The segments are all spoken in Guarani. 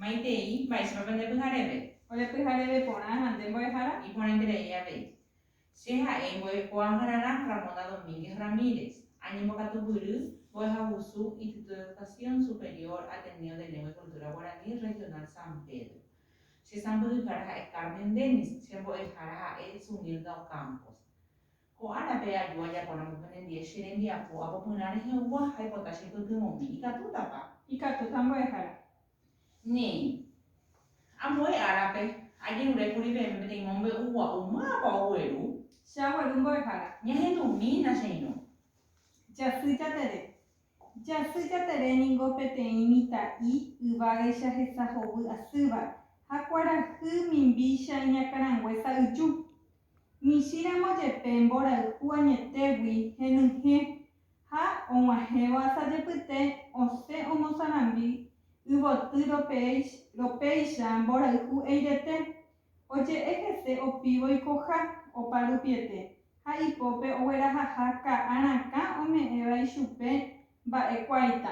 Maitei, mba'éichapako nde pyhareve? Ore pyhareve porã ha nde mbo'ehára? Iporãiterei avei. Che ha'e mbo'ekuaahararã Ramona Domínguez Ramírez, añembokatuguýry mbo'ehagusu Instituto de Educación Superior Ateneo de Lengua y Cultura Guaraní Regional San Pedro. Che sãmbyhyhára ha'e Carmen Dennis, che mbo'ehára ha'e Sunilda Ocampos. Ko árape aju ajaporãmby penendie che rembiapo apopyrã rehe'úva ha aipota che pytyvõmi. Ikatútapa? Ikatúta mbo'ehára. Néi. Ambue árape, ajerure kuri peẽme peteĩ mombe'u gua'u, mávapa ogueru? Che agueru mbo'ehára. Ñahendumína che irũ. Jasy Jatere. Jasy Jatere ningo peteĩ mitã'i yvágaicha hesa hovy asýva ha kuarahy mimbícha iñakãrangue sa'yju. michĩramo jepe mborayhu añetégui henyhẽ ha og̃uahẽvo asajepyte osẽ omosarambi yvoty ropéicha mborayhu eirete, oje'e hese opívo ikoha, opa rupiete ha ipópe oguerahaha ka'ã rakã ome'ẽva ichupe mba'ekuáita.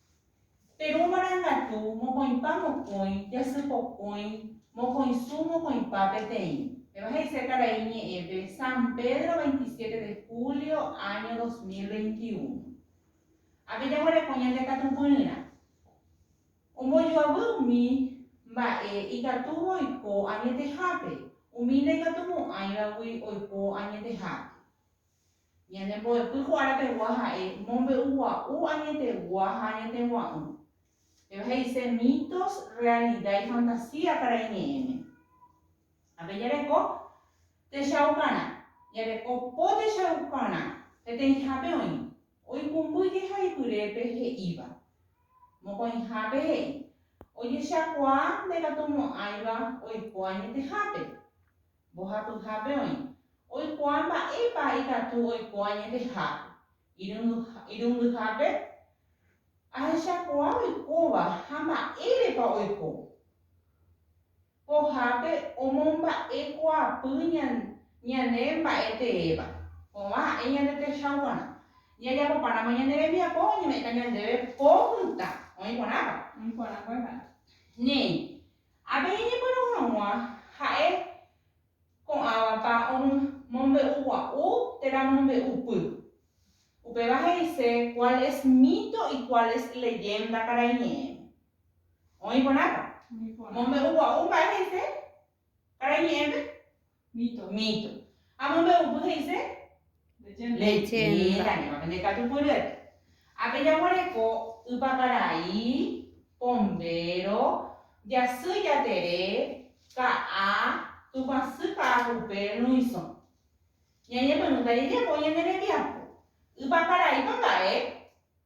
Terũ marangatu mokõipa mokõi, jasy pokõi, mokõisu mokõipa peteĩ. Péva he'ise Karai Ñe'ẽpe, San Pedro 27 de julio año 2021. Ápe jaguereko ñande katupyryrã. Ombojoavy umi mba'e ikatúva oiko añetehápe, umi ndaikatumo'ãivagui oiko añetehápe. Ñane mbo'epy ko ára pegua ha'e mombe'ugua'u añetegua ha añetegua'ỹ. Péva he'ise mitos, realida y fantasía karai ñe'ẽme. Ha pe jareko techaukarã, jareko po techaukarã peteĩhápe oĩ, oikũmby jehaipyrépe he'íva. Mokõihápe he'i, ojechakuaa ndekatumo'ãiva oiko añetehápe. Mbohapyhápe oĩ. Oikuaa mba'épa ikatu oiko añetehápe. Irundyhápe, ahechakuaa oikóva ha mba'érepa oiko. Pohápe omomba'ekuaapy ñane mba'e teéva. Kovã ha'e ñande techa kuarã. Ñajapopáramo ñane rembiapo oñeme'ẽta ñandéve po mitã. Oĩ kuarãpa? Oĩ kuarã mbo'ehára. Néi, Ha pe ñeñepyrũ hag̃ua ha'e ko'ãvapa omombe'ugua'u térã mombe'upy. Upéva he'ise cuál es mito y cuál es leyenda karai ñe'ẽme. Oĩ porãpa? Mombe'ugua'u mba'e he'ise karai ñe'ẽme? Mito. Mito. Ha mombe'upy he'ise? Leyenda. Leyenda. Ñévare nde katupyry. Ha pe jaguareko ypakarai, pombéro, jasy jatere, ka'a, tupãsy ka'agupe, rũisõ. Ñañepyrũta jejapo ñane rembiapo. Ypakaraípa mba'e?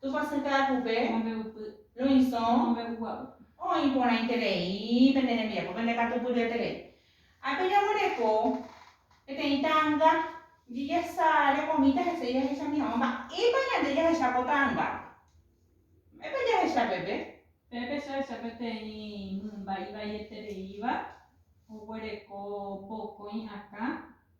Tupãsy ka'akupe, mombe'upy, loisõ, mombe'ugua'u. Oĩ porãiterei pende rembiapo, pende katupyryeterei. Ha pejaguereko peteĩ ta'anga jejasa rekomíta hese jahechami hag̃ua. Mba'épa ñande jahecha ko ta'angápe? Mba'épa jahecha pépe? Pépe jahecha peteĩ mymba ivaietereíva oguereko mokõi akã.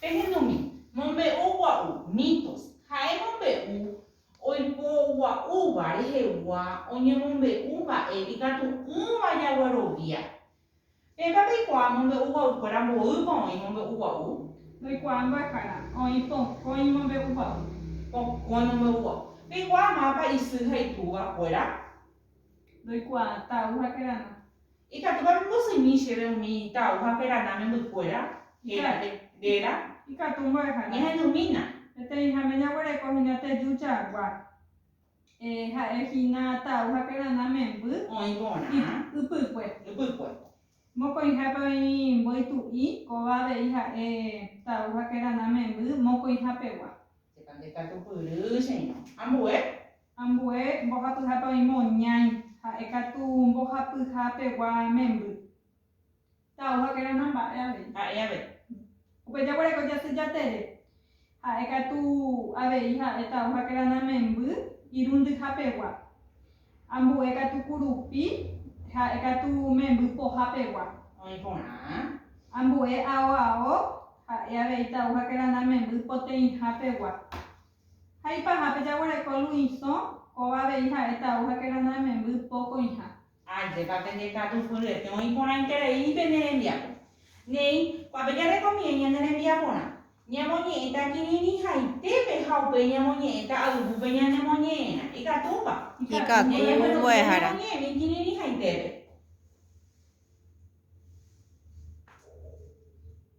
Pehendumi, mombe'u gua'u, mitos, ha'e mombe'u oipogua'úva rehegua oñemombe'u mba'e ikatu'ỹva jaguerovia. Peẽpa peikuaa mombe'u gua'ukuéra mboýpa oĩ mombe'u gua'u? Ndoikuaa mbo'ehára, oĩ pokõ imombe'u gua'u. Pokõ imombe'u gua'u. Peikuaa mápa isy ha itúva kuéra? Ndoikuaa Tau ha Kerana. Ikatúpa pembosymi chéve umi Tau ha Kerana membykuéra réra? Ikatu mbo'ehára. Ñahendumína. Peteĩháme jaguereko hína teju chagua. Ha'e hína Tau ha Kerana memby. Oĩ porã. Ypykue. Ypykue. Mokõihápe oĩ mboytu'i, kóva avei ha'e Tau ha Kerana memby mokõihápegua. Chépa ndekatupyry, cheirõ. Ambue. Ambue mbohapyhápe oĩma oñãi, ha'e katu mbohapyha pegua memby. Tau ha kerana mba'e avei. Ha'e avei. Upe jaguereko jasy jatere, ha'e katu avei ha'e tau ha kerana memby irundyha pegua. Ambue katu kurupi, ha'e katu memby poha pegua. Oĩ porã. Ambue ao ao, ha'e avei tau ha kerana memby poteĩha pegua. Ha ipaha pe jaguereko luĩsõ, kóva avei ha'e tau ha keranda'e memby po koĩha. Ajépa pende katu fyryetéva oĩporãiterei pene rembiapo. Néi, kuápe jarekomiẽ ñane rembiaporã, ñamoñe'ẽta kirirĩhaitépe ha upéi ñamoñe'ẽta ayvúpe ñanemoñe'ẽrã. Ikatúpa? Ikatu. Néi agueroviáta ñamoñe'ẽmi kirirĩhaitépe.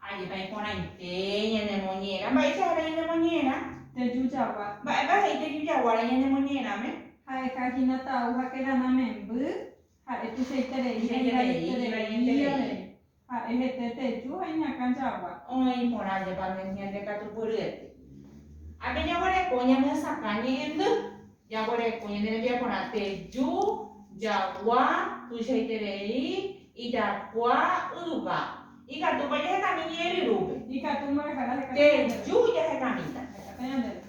Ajépa iporãite ñanemoñe'ẽrã. Mba'éicha héra ñanemoñe'ẽrã? Tejujagua. Mba'épa he'i tejujaguára ñanemoñe'ẽrãme? Ha'eha hína tau ha kerana memby, ha'e tuichaiterei ha ivaieterei avei. Ha'e hete teju ha iñakã jagua. Oĩ porã Jepa Ñande Katupyryete. Ha peñaguereko ñamyesakã ñe'ẽndy. Jaguereko ñane rembiapo rate, ju, jagua, tuichaiterei, ijakua, yva. Ikatúpa jahekami ñe'ẽ ryrúpe? Ikatúma reha'ã jahekami ñe'ẽ ryrúpe. Te ju jahekamíta. Jahekamíta ñande ru.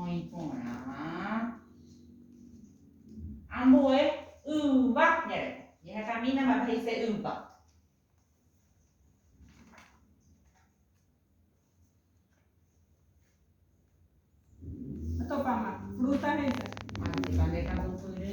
Oĩ porã. Ambue yva ñareko. Ñe'ẽha camina mba'épa he'ise yva. Topáma. Fruta he'ise. Manteka nde kambopyrỹ.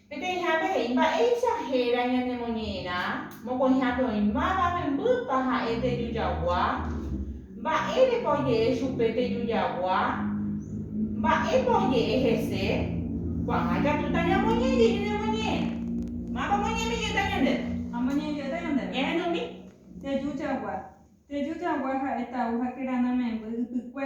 Peteĩhápe he'i, Mba'éicha héra ñanemoñe'ẽrã mokõihápe oĩmáva membýpa ha'e teju jagua? Mba'érepa oje'e chupe teju jagua? Mba'épa oje'e hese? Ko'ág̃a ikatúta ñamoñe'ẽ jeju nemoñe'ẽrã. Mávapa omoñe'ẽmi jeta ñandéve? Amoñe'ẽ jeta ñandéve. Ñahendumi. Teju jagua. Teju jagua ha'e tau ha kerana memby ypykue.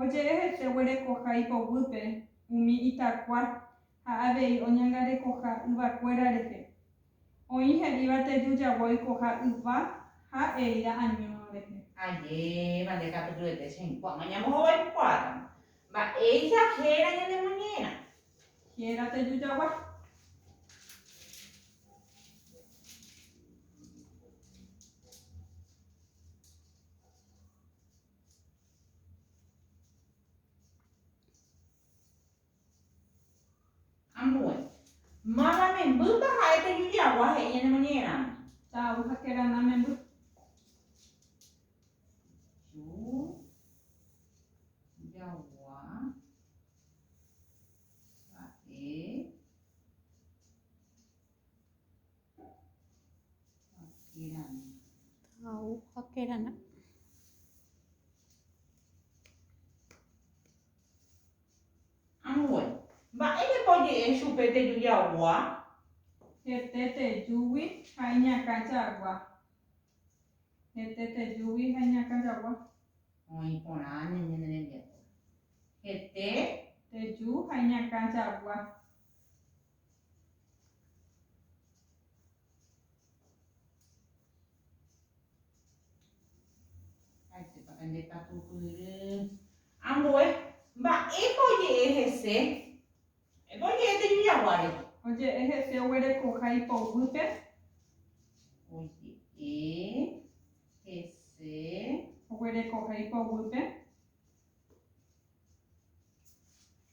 Oje'e hete oguerekoha ipoguýpe umi itakua ha avei oñangarekoha yvakuéra rehe. Oĩ he'íva teju jagua oikoha yva ha eira año rehe. Ajépa nde katu py'ete chehẽkuáma ñamohovaikuaáramo. Mba'éicha héra ñanemoñe'ẽrã? Héra teju jagua. Ambue. Mána membýpa ha'e pe Judiagua he'i ñane moñe'ẽramo. Ta'u ha kerana memby. Agujeranã. Ambue. Mba'érepa oje'e chupe teju jagua? Hete tejúgui ha iñakã jagua. Hete tejúgui ha iñakã jagua. Oĩ porã ñane rembiapo. Hete. Teju ha iñakã jagua. Ambue, Mba'épa oje'e hese? Mba'épa oje'e Tejujaguáre? Oje'e hese oguerekoha ipoguýpe. Oje'e hese oguerekoha ipoguýpe.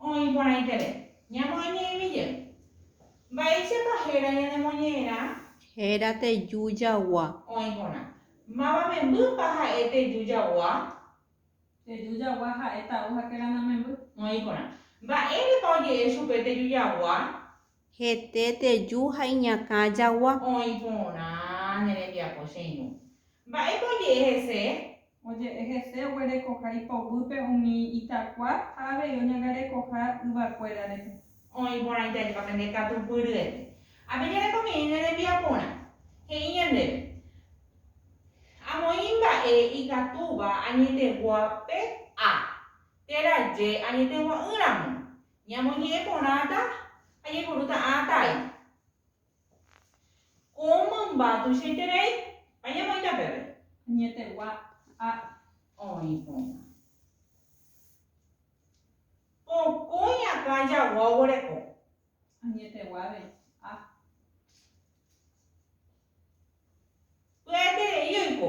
Oĩ porãiterei. Ñamoñe'ẽmi jey. Mba'éichapa héra ñanemoñe'ẽrã? Héra teju jagua. Oĩ porã. Máva membýpa ha'e teju jagua? Teju jagua ha'e ta'u ha kerana memby. Oĩ porã. Mba'érepa oje'e chupe teju jagua? Hete teju ha iñakã jagua. Oĩ porã ne rembiapo che irũ. Mba'épa oje'e hese? Oje'e hese oguerekoha ipoguýpe umi itakua ha avei oñangarekoha yvakuéra rehe. Oĩ porã itajepa pende katupyryete. Ha peñarekomiãi ne rembiaporã. He'i ñandéve. Amoĩ mba'e ikatúva añetegua pe a. Térã je añetegua'ỹ ramo. Ñamoñe'ẽ porãta ha ñaipuru ta'ã tái. Ko mymba tuichaiterei ha ñamoĩta peve. Añetegua ha oĩ porã. Ko kói akã jagua oguereko. Añetegua avei ha. Pya'eterei oiko.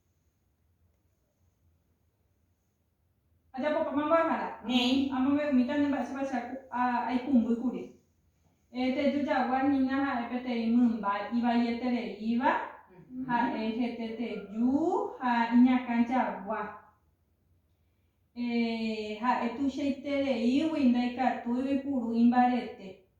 Ajapopáma mbo'ehára? Néi. Amombe'umíta nde mba'éichapa che aikumbýkuri. Teju jagua hína ha'e peteĩ mymba ivaietereíva, ha'e hete teju ha iñakã jagua. Ha'e tuichaitereígui ndaikatúigui puru imbarete.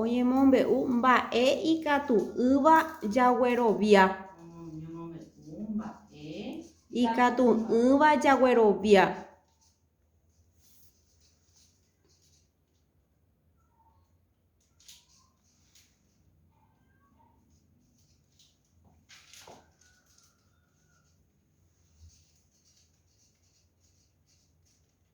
Oñemombe'u mba'e ikatu'ỹva jaguerovia. Oñemombe'u mba'e ikatu'ỹva jaguerovia.